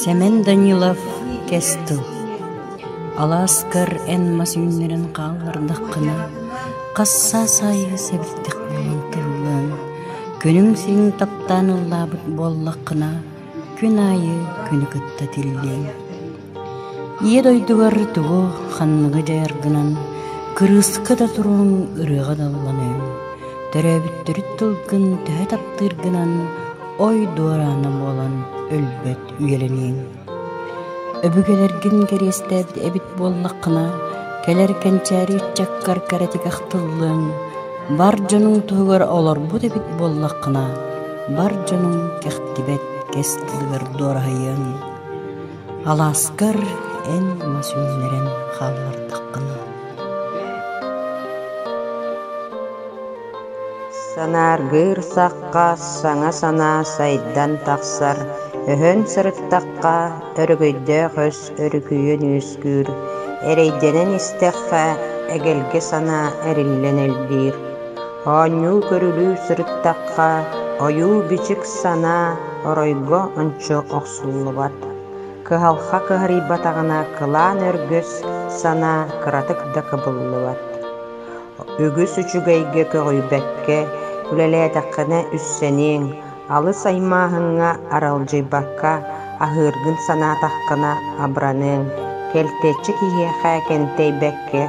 Сэмэн Данилов кэс тыл Алааскар эн мас үүннэрэн хааллардаххына, хас саас аайы сэбирдэхтэрин тыллыаҥ, күнүҥ син таптаан ыллаабыт буоллаххына, күн аайы күнү кытта тиллиэҥ Ийэ дойдугар тугу ханныгы дьайар гынан кырыыска да туруҥ, ырыаҕа да ылланыаҥ, төрөөбүттэрит тылгын төһө таптыыр гынан ой-дуор аана буолан өлбөт үйэлэниэҥ. Өбүгэлэргин кэриэстээбит эбит буоллаххына, кэлэр кэнчээри ыччаккар кэрэтик ахтыллыаҥ, бар дьонуҥ туһугар олорбут эбит буоллаххына, бар дьонуҥ кэхтибэт кэс тылыгар дуораһыйыаҥ. Алааскар эн мас үүннэрэн хааллардаххына Санааргыыр сахха саҥа санаа сайдан тахсар, өһөн сырыттахха өрөгөйдөөх өс өрүкүйэн үөскүүр, эрэйдэнэн истэххэ эгэлгэ санаа эриллэн элбиир. Оонньуу көрүлүү сырыттахха, ойуу-бичик санаа оройго ончу охсуллубат. Кыһалҕа кыһарыйбатаҕына кылаан өргөс санаа кыратык да кыбыллыбат. Үгүс үчүгэйгэ көҕүйбэккэ үлэлээтэххинэ үссэниэҥ, Алыс аймааһыҥҥа аралдьыйбакка аһыыргын санаатаххына абраныаҥ, кэлтэччи киһиэхэ кэнтэйбэккэ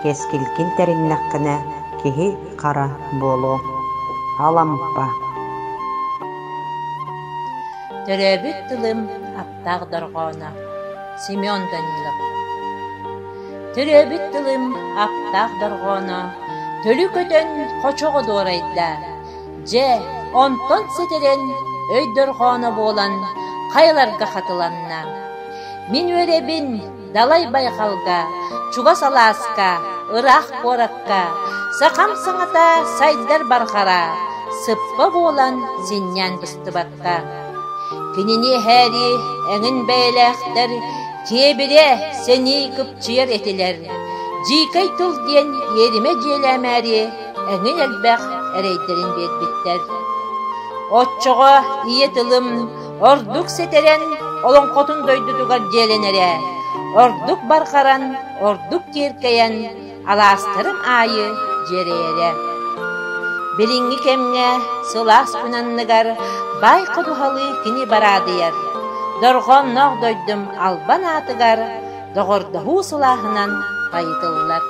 кэскилгин тэриннэххинэ киһи хара буолуоҥ. Алампа Төрөөбүт тылым аптаах дорҕооно Семен Данилов Төрөөбүт тылым аптаах дорҕооно Төлү көтөн хочоҕо дуорайда Дьэ, онтон ситирэн өйдөрҕөөно буолан хайаларга хатыланна: «Мин үөрэбин далай байҕалга, чугас алааска, ыраах куоракка, сахам саҥата сайдар барҕара, сыппа буолан сынньан быстыбат». буолбуттаах. Кинини эһээри эҥин бэйэлээхтэр Дьиэбирэ сэнии кыпчыйар этилэр. Дьиикэй тыл диэн иэримэ дьиэлээмээри эҥин элбэх эрэйдэрин биэрбиттэр. Оччоҕо ийэ тылым ордук сэтэрэн олоҥхотун дойдутугар дьиэлэнэрэ, ордук барҕаран, ордук киэркэйэн Алаастарым аайы дьиэрэйэрэ. Билиҥҥи кэмҥэ сылаас күн анныгар баай ходуһалыы кини бараадыйар, дорҕоонноох дойдум албан аатыгар доҕордоһуу сылааһынан хайытыллар.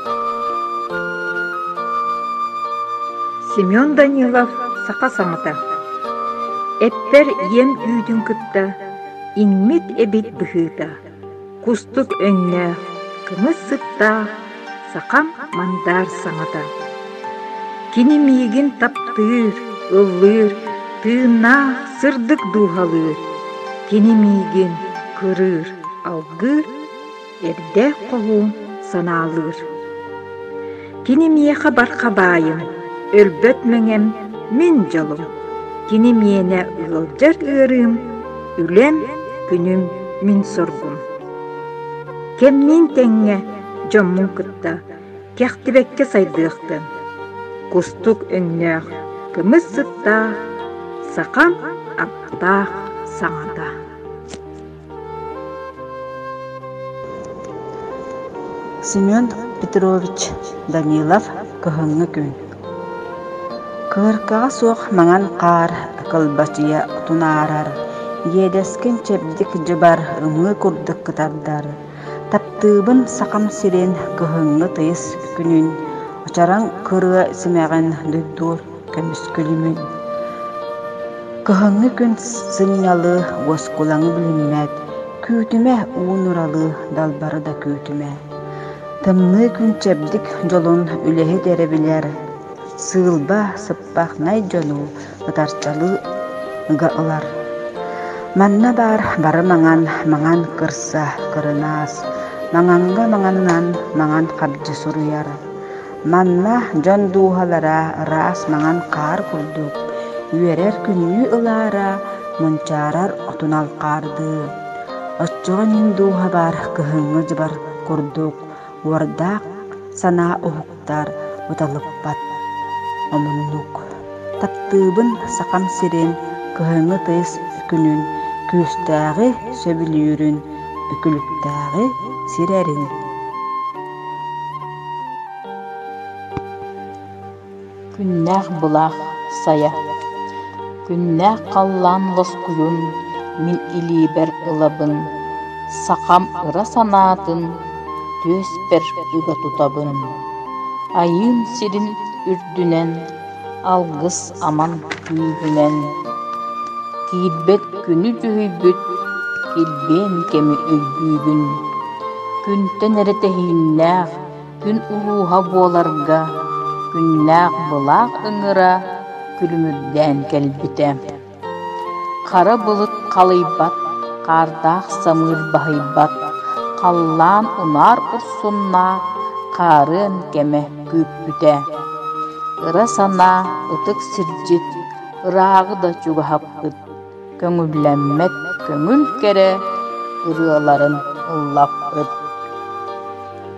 Семен Данилов саха саҥата Эппэр ийэм түүтүн кытта иҥмит эбит быһыыта кустук өҥнөөх, кымыс сыттаах сахам мандаар саҥата. Кини миигин таптыыр, ыллыыр, тыыннаах сырдык дууһалыыр. Кини миигин кырыыр, алгыыр, эрдээх хоһуун санаалыыр. Кини миэхэ барха баайым, өлбөт мэҥэм, мин дьолум. Кини миэнэ ыалдьар ыарыым, үлэм, күнүм, мин соргум. Кэмниин тэҥҥэ дьоммун кытта кэхтибэккэ сайдыахтын. Кустук өҥнөөх кымыс сыттаах, сахам аптаах саҥата. Семен Петрович Данилов кыһыҥҥы күн Кыыркаҕа суох маҥан хаар кылбачыйа тунаарар, иэдэскин чэбдик дьыбар ымыы курдук кытардар. Таптыыбын Сахам сирин кыһыҥҥы тыйыс күнүн, очараҥ кырыа симэҕин дуйдуур. Көмүскүлүмүн Кыһыҥҥы күн сынньалыы уоскулаҥы билиммэт, Күүтүмэ уунуралыы далбары да күүтүмэ. Тымныы күн чэбдик дьолун үлэһит эрэ билэр, Сыылба сыппахнай дьону ытарчалыыга ылар. Манна баар бары маҥан, маҥан кырса кырынаас, Маҥаҥҥа маҥаннан маҥан хабдьы суруйар. Манна дьон дууһалара ыраас маҥан хаар курдук, үөрэр күннүү ылаара, мунчаарар отун алҕаардыы. Оччоҕо ньим дууһа баар кыһыҥҥы дьыбар курдук уордаах санаа уһуктар, уталыппат. Омуннук. Таптыыбын Сахам сирин кыһыҥҥы тыйыс күнүн, күүстээҕи сөбүлүүрүн, үкүлүктээҕи сирэрин. Күннээх былаах сайа, күннээх халлаан лоскуйун мин илиибэр ылабын, сахам ыра санаатын түөспэр ыга тутабын, Айыым сирин үрдүнэн Алгыс аман күүһүнэн Киирбэт күнү дьүһүйбүт Килбиэн кэми өйдүүгүн Күнтэн эрэ тэһииннээх Күн улууһа буоларга Күннээх былаах ыҥыра Күлүмүрдээн кэлбитэ Хара былыт халыйбат, хаардаах самыыр баһыйбат, халлаан унаар урсуннаах хаарыан кэмэ күүппүтэ. Ыра санаа ытык сирдьит, ырааҕы да чугаһаппыт, көҥүллэммэт көҥүл кэрэ ырыаларын ыллаппыт.